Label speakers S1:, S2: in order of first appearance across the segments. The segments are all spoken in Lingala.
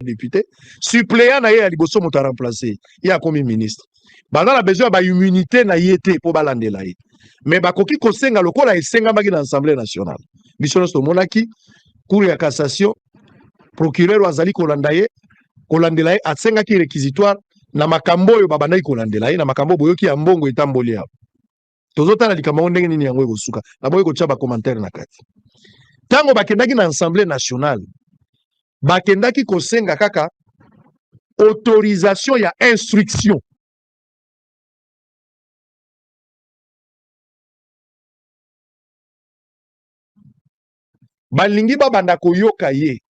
S1: député suppléant na ye ya liboso moto aremplace ye akomi ministre baza na besoin ya baimmunité na ye te mpo balandela ye me bakoki kosenga lokola esengamaki na assemblée nationale biso nyonso tomonaki cour ya cassation procureur oyo azali kolanda ye kolandela ye asengaki réquisitoire na makambo oyo babandaki kolandela ye na makambo boyoki ya mbongo etamboli awa tozotala likambo yango ndenge nini yango ekosuka naboyi kotya bacommentaire na kati ntango bakendaki na assemblée nationale bakendaki kosenga kaka autorisation ya instruction balingi babanda koyoka ye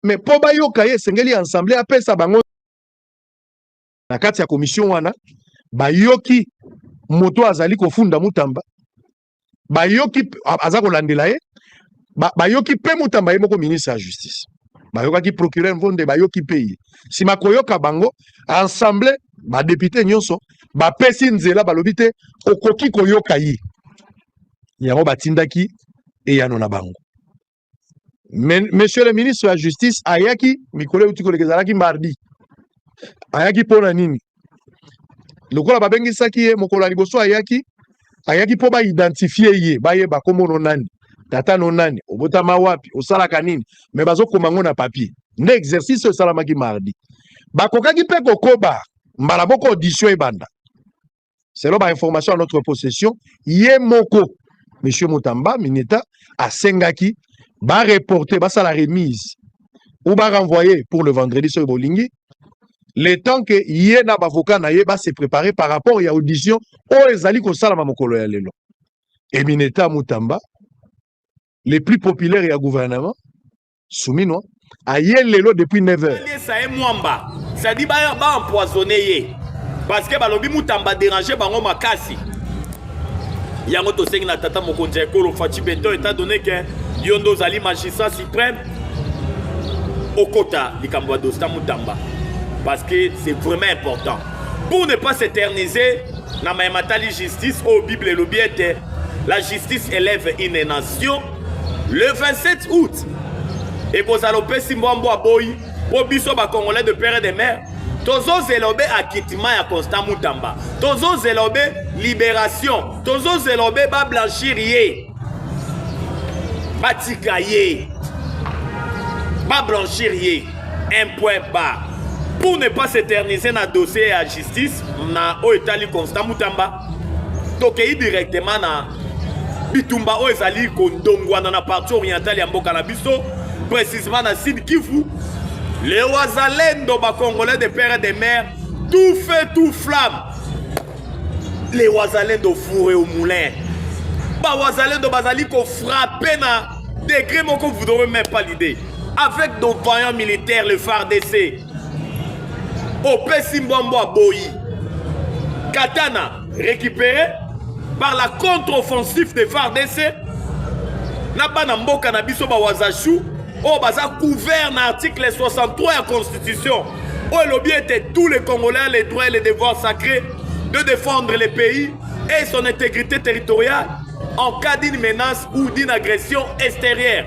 S1: me mpo bayoka ye esengeli assemblée apesa bango na kati ya commission wana bayoki moto azali kofunda mutamba bayoki aza kolandela ye bayoki mpe mutamba ye moko ministre ya justice bayokaki procureur mvonde bayoki mpe ye nsima koyoka bango ensemble badepute nyonso bapesi nzela balobi te okoki koyoka ye yango batindaki eyano na bango Mais, monsieur le ministre ya justice ayaki mikolo euti koleka ezalaki mardi ayaki mpo na nini lokola babengisaki ye mokolo ya liboso ayaki ayaki mpo baidentifie ye bayeba nkombo no nani tata no nani obotama wapi osalaka nini me bazokoma yango na papier nde exercice oyo esalamaki mardi bakokaki mpe kokoba mbala moko audition ebanda selon ba information ya notre possession ye moko monsieur mutamba mineta asengaki ba reporter basala remise ou ba renvoyer pour le vendredi soki bolingi le temps que ye na bavoka na ye ba se préparer par rapport ya audition oyo ezali kosalama mokolo ya lelo emineta mutamba le plus populaire ya gouvernement Suminwa aye lelo depuis 9h. Alesa ye mwamba.
S2: Ça dit ba ba empoisonner ye. Parce que balobi mutamba déranger bango makasi. Yango tosengi na tata mokonzi ya ekolo Fatshi Beton étant donné que yo nde ozali magistrat suprême okota likambo ya dosta mutamba parce que c'est vraiment important pour ne pas s'éterniser na maye matali justice oyo bible elobi ete la justice élève une nation le 27 août ekozala opesi mbwambo aboyi mpo biso bacongolais de père et de mère tozozela obe akitima ya constant mutamba tozozela obe libération tozozela obe bablanchir ye batika ye bablanchir ye un point bas pour ne pas s'éterniser na dossier ya justice na oyo etali constant mutamba tokei directement na bitumba oyo ezali kondongwana na parti orientale ya mboka na biso précisement na sud kivu les wazalendo bacongolais de père et de mère tout feu tout flamme les wazalendo fourre au moulin bawazalendo bazali kofrape na degré moko vous n'aurez même pas l'idée avec nos vaillants militaires le fardc opesi mbwambwa boyi katana récupéré par la contre-offensive de FARDC na bana mboka na biso bawazashu oyo baza couvert na article 63 ya constitution oyo elobi ete tous les congolais les droits et les devoirs sacrés de défendre le pays et son intégrité territoriale en cas d'une menace ou d'une agression extérieure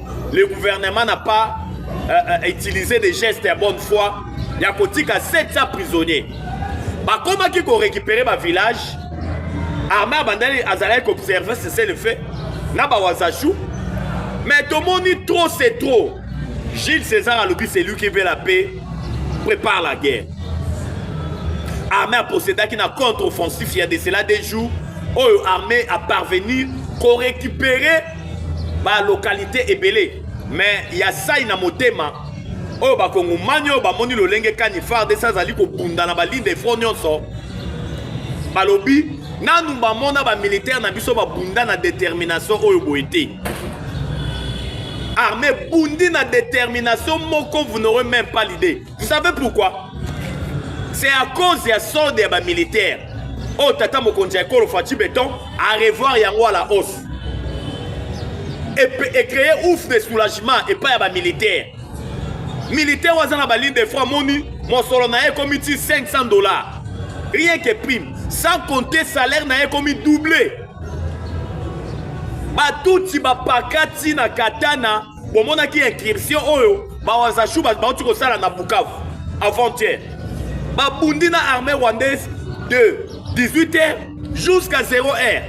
S2: le gouvernement n'a pas euh, euh, utilisé des gestes ya bonne foi ya kotika 700 prisonniers bakomaki korécupere bavillage armée abandaki azalaki koobserve cessez le fait na bawazachou mais tomoni trop c'est trop gilles césar alobi c'est lui qui veut la paix prépare la guerre armée aposedaki na contre-offensif ya de cela des jours oyo armée aparvenir korécupere ba localité ebele mais ya sai na motema oyo bakongomani oyo bamoni lolenge kani fardc azali kobunda na baline de front nyonso balobi nanu bamona bamilitaire na biso babunda na determination oyo boye te armée bundi na determination moko vous n'aurez même pas l'idée vous savez pourquoi c'est à cause ya solde ya bamilitaire oyo oh, tata mokonzi ya ekolo faci beton arevoir yango à la hausse ecreye ouf de soulagement epai ya bamilitaire militaire oyo aza na baligne de franc moni mosolo na ye ekomi ti 500 dollars rien que prime sans compter salaire na ye ekomi double batutsi bapakati na katana bomonaki incursion oyo bawazashu bauti kosala na bukavu avant-hier babundi na armée rwandaise de 18 heures jusqu'à 0 heure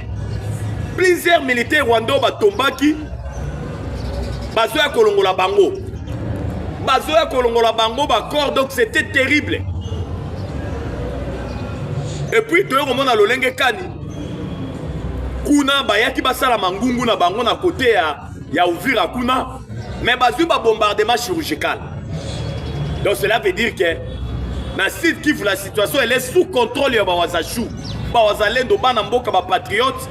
S2: plusieurs militaires rwanda oyo batombaki bazoya kolongola bango bazoya kolongola bango bacor donc c'était terrible epuis toye komona lolenge kani kuna bayaki basala mangungu na bango na kote ya ya uvira kuna mais bazwi babombardement chirurgical donc cela veut dire que na sud kivu la situation elle est sous contrôle ya bawazachou bawazalendo bana mboka bapatriote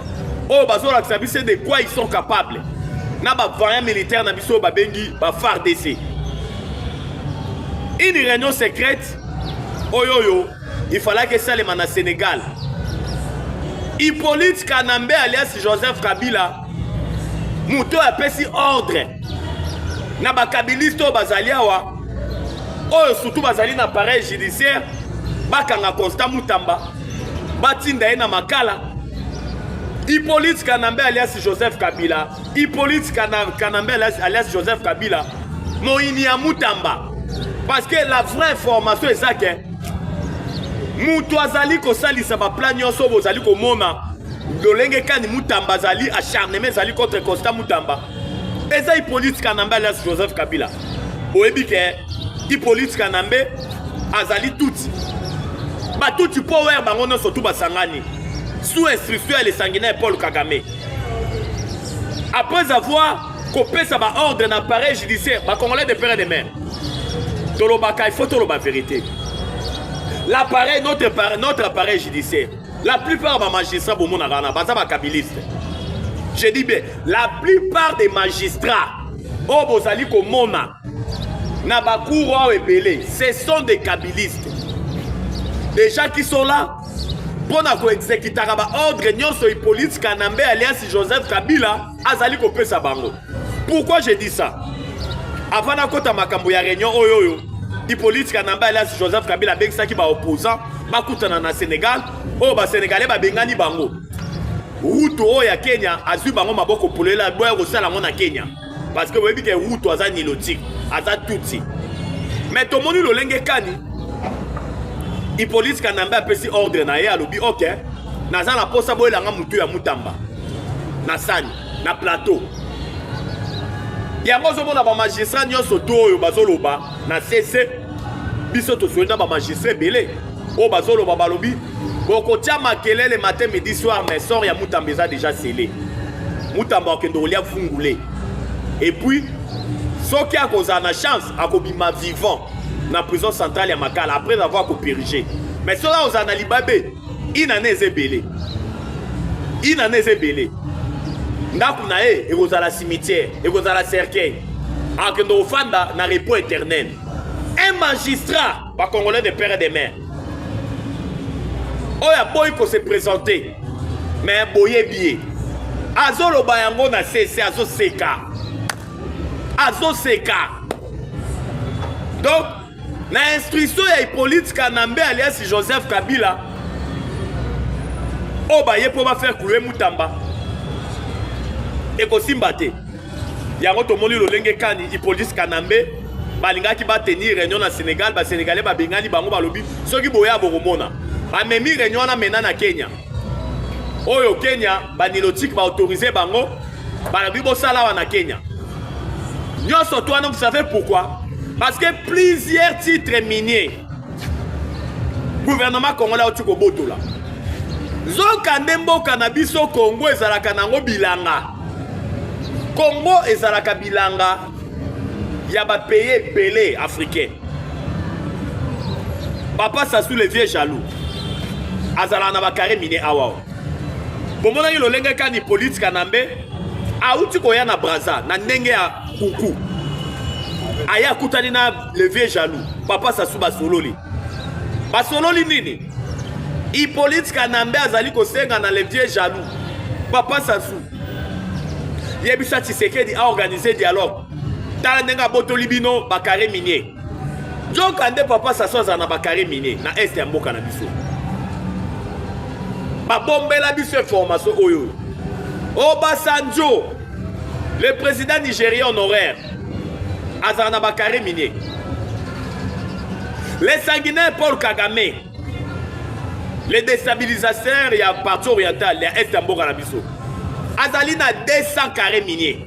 S2: oyo bazolakisa biso de quoi ils sont capables na bavaillant militaire na biso oyo babengi bafardc une réunion secrète oyo oyo Il fallait que Salema na Sénégal. Hippolyte Kanambe alias Joseph Kabila moto apesi ordre na bakabiliste oyo bazali awa oyo surtout bazali na pareil judiciaire bakanga constant mutamba batinda ye na makala hippolyte kanambe alias joseph kabila Hippolyte Kanambe alias Joseph Kabila moyini ya Mutamba parce que la vraie information eza ke moto azali kosalisa baplan nyonso bozali komona lolenge kani Mutamba azali acharnement ezali contre Constant Mutamba eza Hippolyte Kanambe alias Joseph Kabila boyebi ke Hippolyte Kanambe azali tutsi batuti power bango nyonso tu basangani sous instruction ya lesangi na paul kagame après avoir kopesa baordre na appareil judiciaire bacongolais de père et de mère tolobaka il faut toloba vérité l'appareil notre, notre appareil judiciaire la plupart ya bamagistrat bomonaka wana baza bakabiliste je dis bien la plupart des magistrats oyo bozali komona na bacour oyo ebele ce sont des kabilistes des gens qui sont là mpo na koexekitaka baordre nyonso Hippolyte Kanambe alias Joseph Kabila azali kopesa bango. Pourquoi je dis ça? Avant nakota makambo ya réunion oyo oyo Hippolyte Kanambe alias Joseph Kabila abengisaki ba opposants bakutana na Sénégal oyo ba Sénégalais babengani bango. Ruto oyo ya Kenya azwi bango maboko polele aboya kosala yango na Kenya. parce que boyebi ke ruto aza nilotique aza tutsi mais tomoni lolenge kani ipolisi kanambe apesi ordre na ye alobi ok naza na mposa boyelanga motu ya mutamba na sani na plateau yango ozomona bamagistrat nyonso to oyo bazoloba na sese biso tosoli na bamagistrat ebele oyo bazoloba balobi bokotya makelele matin midi soir mais sort ya mutamba eza déjà sele mutamba akende kolya fungule epuis soki akozala na chance akobima vivant na prison centrale ya makala après avoir kopirige mais soki akozala na libabe inane eza ebele inane eza ebele ndako na ye ekozala cimetière ekozala cercueil akende ofanda na repos éternel un magistrat bacongolais de père et de mère oyo aboyi kose présente me boyebi ye azoloba yango na sese azoseka azoseka donc na instruction ya hippolyte kanambe alias joseph kabila oyo baye mpo bafaire cloue mutamba ekosimba te yango tomoni lolenge kani ipolisi kanambe balingaki batenir réunion na sénégal basénégalais babengani bango balobi soki boya bokomona bamemi réunion wana mena na kenya oyo kenya banilotike baautorise bango balobi bosala awa na kenya nyonso to wana vous savez pourquoi parce que plusieurs titres miniers gouvernement congolais auti kobotola nzoka nde mboka na biso kongo ezalaka nango bilanga Congo ezalaka bilanga ya ba pays ebele africain. Papa Sassou le vieux jaloux azalaka na ba carré mine awa. Bomonaki lolenge kani police Kanambe auti koya na Brazza na ndenge ya kuku aya akutani na le vieux jaloux papa Sassou basololi basololi nini Hippolyte Kanambe azali kosenga na le vieux jaloux papa Sassou yebisa Tshisekedi a organiser dialogue tala ndenge abotoli bino ba carré minier nzoka nde papa Sassou azala na ba carré minier na est ya mboka na biso babombela biso information oyo obasanjo Le président nigérien honoraire azala na bakare minier. Le sanguinaire Paul Kagame, le déstabilisateur ya parti oriental ya est ya mboka na biso, azali na 200 carré minier.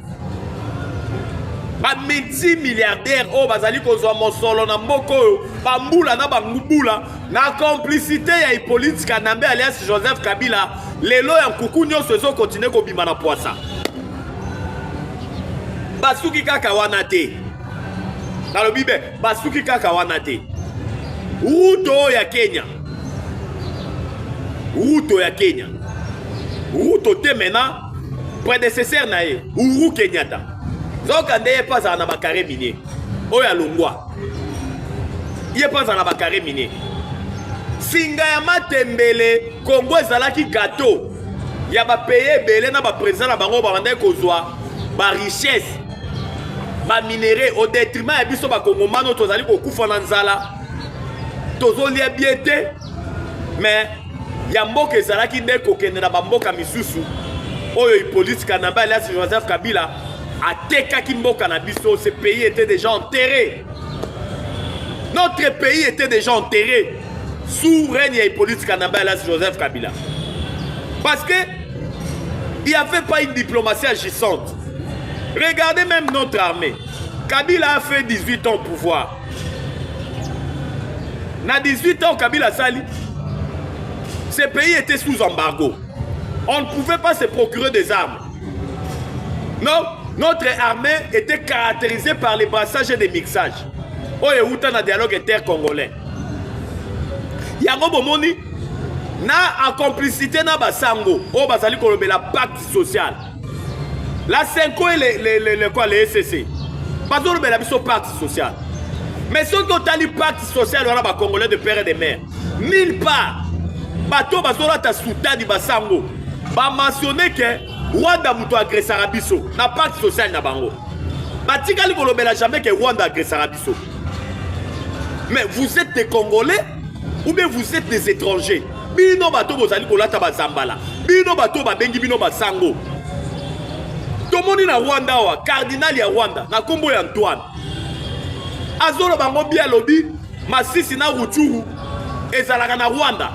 S2: bamiti milliardaire oyo bazali kozwa mosolo na mboka oyo bambula na bangubula na complicité ya hippolite kanambe alias joseph kabila lelo ya nkuku nyonso ezo continue kobima na pwasa basuki kaka wana te nalobi be basuki kaka wana te ruto oyo ya kenya ruto ya kenya ruto te mena predecesseur na ye uru kenyata nzoka nde ye mpe azala na bakare minier oyo alongwa ye mpe azala na bakare mine singa ya matembele kongo ezalaki gato ya bapeye ebele na bapresident na bango babandaki kozwa barichesse baminere au detriment ya biso bakongomano tozali kokufa na nzala tozolia bie te mais ya mboka ezalaki nde kokende na bamboka misusu oyo ipolitika na mbe alias joseph kabila atekaki mboka na biso ce pays était déjà enterré notre pays était déjà enterré sous règne ya hippolyte kanamba elas joseph kabila parce que il n'y avait pas une diplomatie agissante regardez même notre armée kabila a fait 18 ans au pouvoir na 18 ans kabila asali ce pays était sous embargo on ne pouvait pas se procurer des armes Non, notre armée était caractérisée par les brassages et des mixages. Oyo euta na dialogue inter congolais. Yango bomoni na en complicité na basango oyo bazali kolobela pacte social. La Senko et les, les, les, les, quoi, les SCC bazolobela biso pacte social. Mais soki otali pacte social wana ba congolais de père et de mère mille part bato bazolata sutani basango bamensione ke rwanda moto agresaka biso na parti social na bango batikali kolobela jamais ke rwanda agresaka biso mais vous êtes des congolais ou bien vous êtes des étrangers bino bato bozali kolata bazambala bino bato babengi bino basango tomoni na rwanda awa cardinal ya rwanda na nkombo ya antoine azoloba ngo bie alobi Masisi na Ruchuru ezalaka na Rwanda.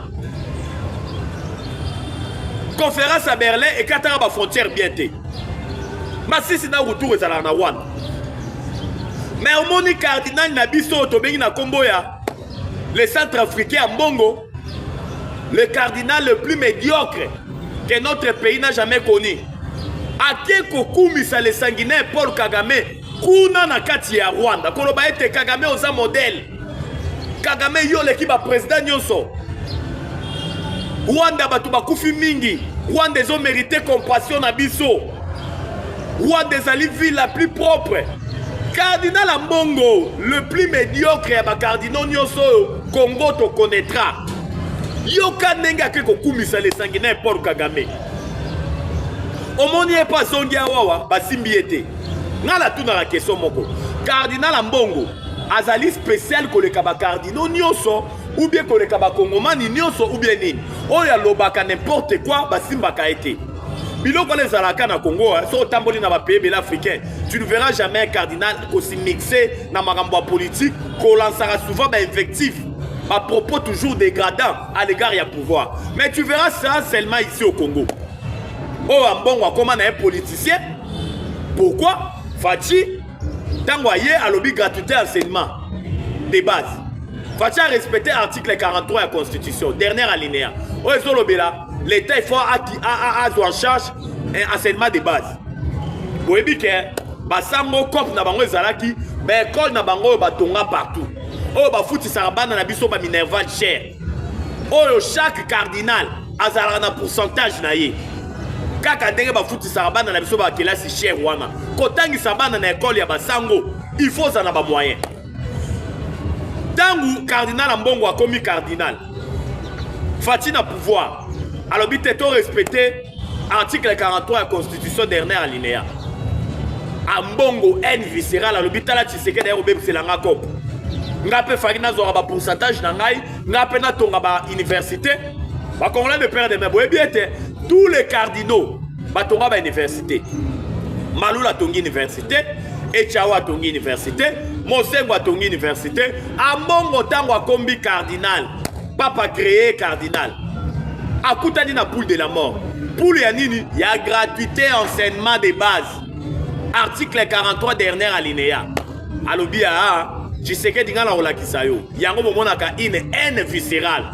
S2: Conférence à Berlin ekataka ba frontières bien te. Masisi na Ruchuru ezalaka na Rwanda. Mais omoni cardinal na biso tobengi na kombo ya le centre africain ya mbongo le cardinal le plus médiocre que notre pays n'a jamais connu ake kokumisa le sanguinaire Paul Kagame kuna na kati ya rwanda koloba ete kagame oza modele kagame yo oleki baprezida nyonso rwanda bato bakufi mingi rwanda ezomerite compassion na biso rwanda ezali ville la plus propre cardinal ambongo le plus médiocre ya bacardinaux nyonso oyo congo tokonetra yoka ndenge ake kokumisa lesangi na paul kagame omoni ye mpo azongi awawa basimbi ye te nga natunaka question moko cardinal ambongo azali spécial koleka bacardinaux nyonso ou bien koleka bakongomani nyonso ou bien nini oyo alobaka n'importe quoi basimbaka ye te biloko wana ezalaka na congo hein. soki otamboli na bapays ebele africain tu ne verras jamais un cardinal kosimixe na makambo ya politique kolansaka souvent bainvective bapropos toujours dégradant à l'égard ya pouvoir mais tu verras ça seulement ici au congo oyo ambongo akoma na ye politicien pourquoi faci ntango aye alobi gratuité ya enseignement de base faci arespecte article 43 ya constitution dernière alinéa oyo ezolobela l'état ifo azwa en charge eh, enseignement de base boyebi ke basango cope na bango ezalaki baekole na bango oyo batonga partout oyo bafutisaka bana na biso baminerval cher oyo chaque cardinal azalaka na pourcentage na ye kaka ndenge bafutisaka bana na biso bakelasi chere wana kotangisa bana na ekole ya basango il faut ozala na bamoyen ntango cardinal ya mbongo akomi cardinal fati na pouvoir alobi te to respecte article 43 ya constitution dernière alinéa ambongo haine viscérale alobi tala tshisekedi aye kobebisela nga cope nga mpe faki nazwaka bapourcentage na ngai nga mpe natonga bauniversité bacongolais de père de mai boyebi ete tous les cardinaux batonga bauniversité malula atongi université echawa atongi université mosengo atongi université ambongo ntango akombi cardinal papa cree cardinal akutani na poule de la mort poule ya nini ya gratuité enseignement de base article 43 dernière alinéa alobi aa ah, tshisekedi ngai nakolakisa yo yango bomonaka une haine viscérale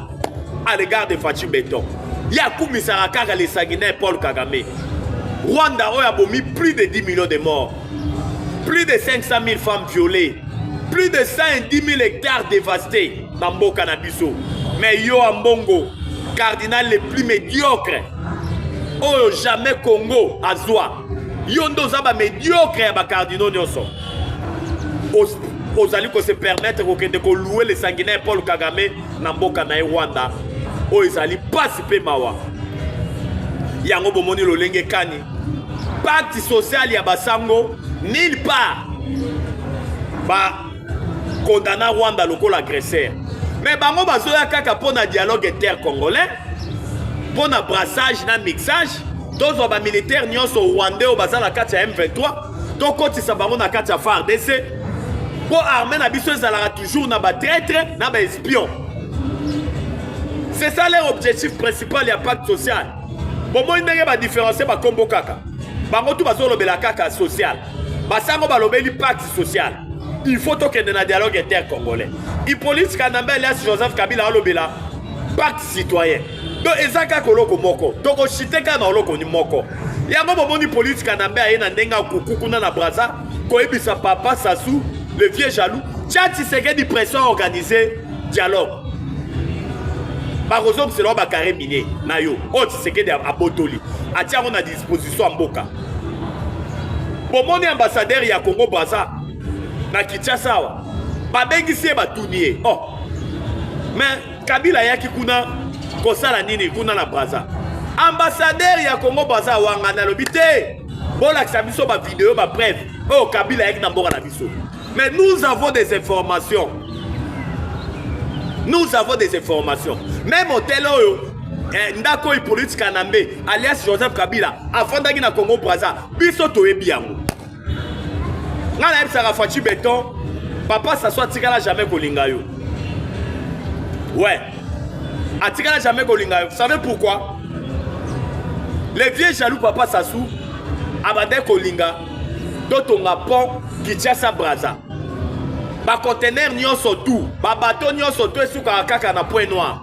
S2: à l'égard de faci beton ye akumisaka kaka le sanguinaire paul kagame rwanda oyo abomi plus de 10 millions de morts plus de 500 000 femmes violées plus de 110 000 hectares dévastés na mboka na biso mais yo ambongo cardinal le plus médiocre oyo jamais congo azwa yo nde oza bamédiocre ya bacardinaux nyonso ozali kose permettre kokende koloue le sanguinaire paul kagame na mboka na ye rwanda oyo ezali mpasi mpe mawa yango bomoni lolenge kani pacte social ya basango nil part ba condamna Rwanda lokola agresseur mais bango bazoya kaka mpo na dialogue intercongolais mpo na brassage na mixage tozwa bamilitaire nyonso rwandais oyo baza na kati ya m23 tokotisa bango na kati ya fardc mpo arme na biso ezalaka toujours na batraitre na baespion c'est ça leur objectif principal ya pacte social bomoi ndenge badifferencie bakombo kaka bango tu bazolobela kaka social basango balobeli pacte social il faut tokende na dialogue intercongolais hippolyte kanambe alias joseph kabila alobela pacte citoyen to eza kaka oloko moko tokosite kaka na oloko moko yango bomoni polisi kanambe aye na ndenge akuku kuna na braza koyebisa papa sasu le vieux jaloux tia tshisekedi pression organise dialogue bakozongisela yo bakare mine na yo oyo tshisekedi abotoli atia yango na position ya mboka bomoni ambassadeur ya congo braza na kinshasa awa babengisi ye batuni ye oh. me kabila ayaki kuna kosala nini kuna na braza ambassadeur ya congo braza awangana alobi te bolakisa biso bavideo bapreve oyo oh, kabila ayaki na mboka na biso Mais nous avons des informations. Nous avons des informations. Même hôtel oyo eh, ndako oyo Hippolyte Kanambe alias Joseph Kabila afandaki na Congo Brazza biso toyebi yango. Nga nayebisaka Fatshi Beton papa Sassou atikala jamais kolinga yo. Ouais. Atikala jamais kolinga yo. Vous savez pourquoi? Le vieux jaloux papa Sassou abandaki kolinga totonga pont kinshasa braza bacontener nyonso tu babato nyonso tu esukaka kaka na point noir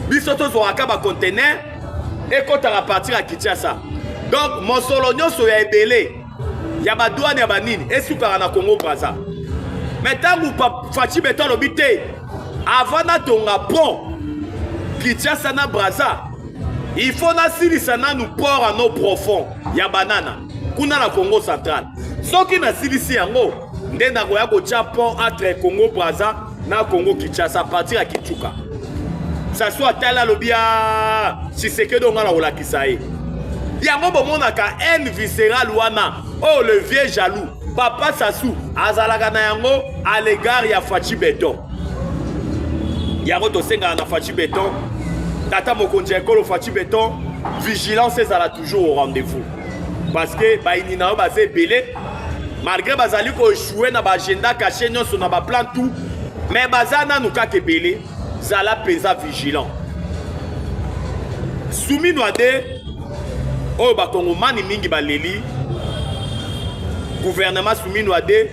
S2: biso tozwaka bacontener ekotaka partir ya kinshasa donc mosolo nyonso ya ebele ya badwane ya banini esukaka na congo braza me ntango faci beto alobi te avant natonga pont kinshasa na braza il faut nasilisa nanu port ano profond ya banana kuna na congo central soki nasilisi yango nde nakoya kotya pont entre congo braza na congo kinshasa partir ya kichuka saswa tala alobi ya ah, sisekedi onga na kolakisa ye yango bomonaka haine viscérale wana oyo oh, le vieux jaloux papa sasu azalaka na yango à l'égard ya faci beton yango tosengaka na faci beton tata mokonzi ya ekolo faci beton vigilance ezala toujours au rendez-vous parce que bayini na yo baza ebele malgré bazali koechoue na baagenda cache nyonso na baplan tout mais baza nanu kaka ebele zala mpenza vigilant suminwa de oyo bakongomani mingi baleli guvernema suminwa de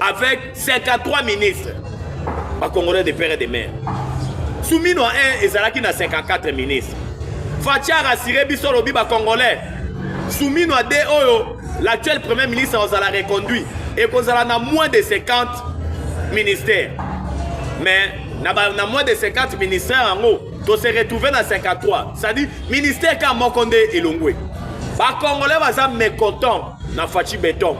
S2: avec 53 ministres bacongolais de père et de mare sumino 1 ezalaki na 54 ministres faci arasire biso olobi bacongolais sumino 2 oyo l'actuel premier ministre akozala reconduit ekozala na moins de 50 ministères mais na, ba, na moins de 50 ministères yango tose retrouve na 53 c'est-à-dire ministère kaka moko nde elongwe bacongolais baza mécontent na faci beton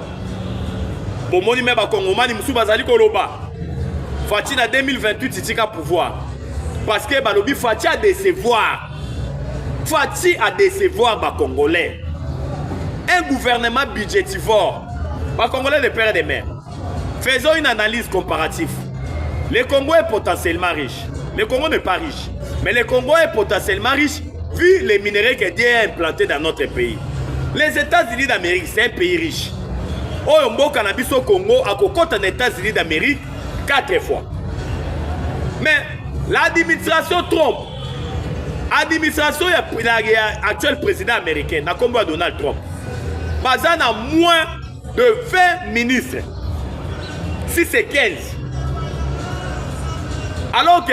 S2: bomoni me bakongomani mosusu bazali koloba faci na 2028 itika pouvoir parce que balobi faci adecevoir faci adecevoir bacongolais un gouvernement budgetivore bacongolais de père de mère faisons une analyse comparative le congo est potentiellement riche le congo n'est pas riche mais le congo est potentiellement riche Vu les minerais que Dieu a implanté dans notre pays, les États-Unis d'Amérique, c'est un pays riche. Oyo mboka na biso Congo akokota na États-Unis d'Amérique quatre fois. Mais l'administration Trump, administration ya, ya, ya actuel président américain na kombo ya Donald Trump, baza na moins de 20 ministres. Si c'est 15. Alors que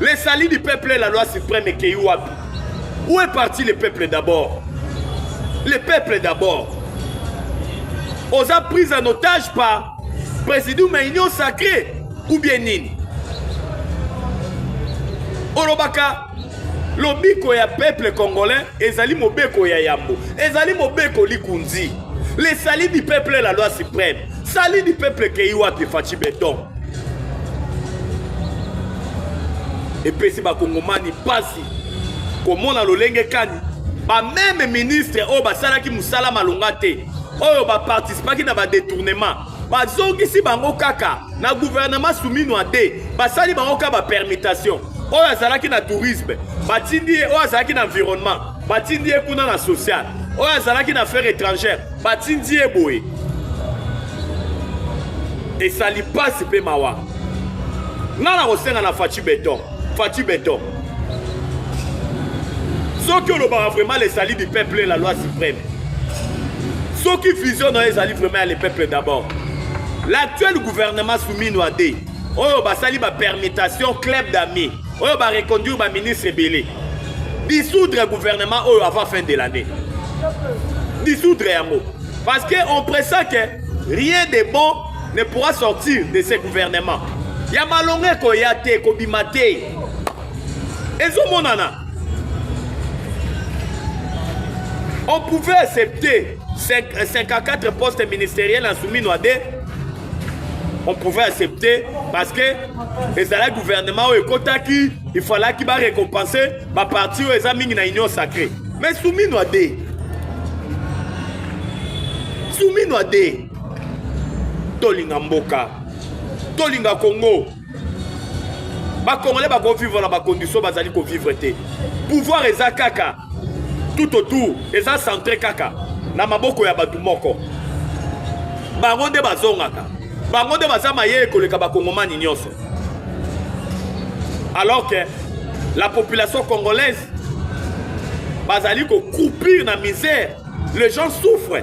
S2: Les salis du peuple et la loi suprême ekei wapi Où est parti le peuple d'abord Le peuple d'abord oza prise en otage par présidium ya union sacré ou bien nini olobaka lobiko ya peuple congolais ezali mobeko ya yambo ezali mobeko likunzi le sali du peuple la loi suprême sali du peuple ekei wapi faci beton epesi bakongomani mpasi komona lolenge kani bameme ministre oyo basalaki mosala malonga te oyo baparticipaki na badetournement bazongisi bango kaka na guvernema suminwa te basali bango kaka bapermutation oyo azalaki na tourisme batindi ye oyo azalaki na environnement batindi ye kuna na social oyo azalaki na affaire étrangère batindi ye boye esali mpasi mpe mawa ngai nakosenga na faci beton Fatshi Beton. soki olobaka vraiment le salut du peuple la loi suprême soki vision na yo ezali vraiment ya le peuple d'abord l'actuel gouvernement soumis noide oyo basali bapermutation club d'ami oyo bareconduire baministre ebele dissoudre gouvernement oyo avant fin de l'année dissoudre yango parce que on pressent que rien de bon ne pourra sortir de ce gouvernement ya malonga ekoya te ekobima te ezomonana on pouvait accepter 54 euh, postes ministériels en soumis noade on pouvait accepter parce que ezalaki gouvernement oyo ekotaki il fallaki barécompense baparti oyo eza mingi na union sacrée mais soumis noade soumis noade tolinga mboka tolinga congo bakongole bakovivre na bakondition bazali kovivre te pouvoir eza kaka tout autour eza centre kaka na maboko ya bato moko bango nde bazongaka bango nde baza mayele koleka bakongomani nyonso alors que la population congolaise bazali kokroupir na misère Les gens souffrent.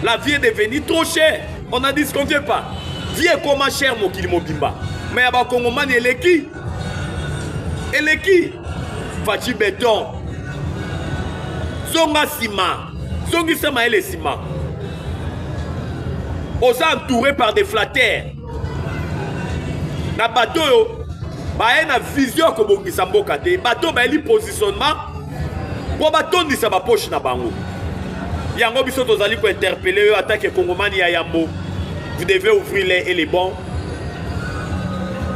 S2: La vie est devenue trop chère. On n'en disconvient pas. Vie est comment cher mokili mobimba. Mais ya bakongomani eleki. Eleki. Fachi beton. Zonga nsima. Zongisa mayele nsima. Oza entouré par des flatteurs. na bato oyo baye na vision ya kobongisa mboka te bato oyo bayeli positionnement mpo batondisa baposhe na bango yango biso tozali kointerpele yo atake kongomani ya yambo vous devez ouvrir les et les bons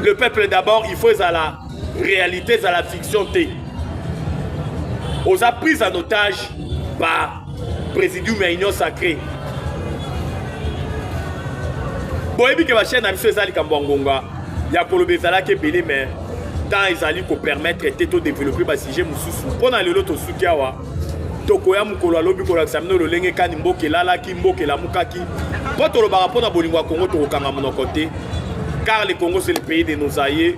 S2: le peuple d'abord il faut ezala réalité ezala fiction te oza prise en otage par Presidium ya Union Sacrée. boyebi ke bachaine na biso eza likambo ya ngonga ya koloba ezalaki ebele mais temps ezali kopermettre te todeveloppe basujet mosusu mpo na lelo tosuki awa tokoya mokolo alobi kolakisa bino lolenge kani mboka elalaki mboka elamukaki mpo tolobaka mpo na bolingo ya kongo tokokanga monoko te car le congo c'est le pays de nos aïeux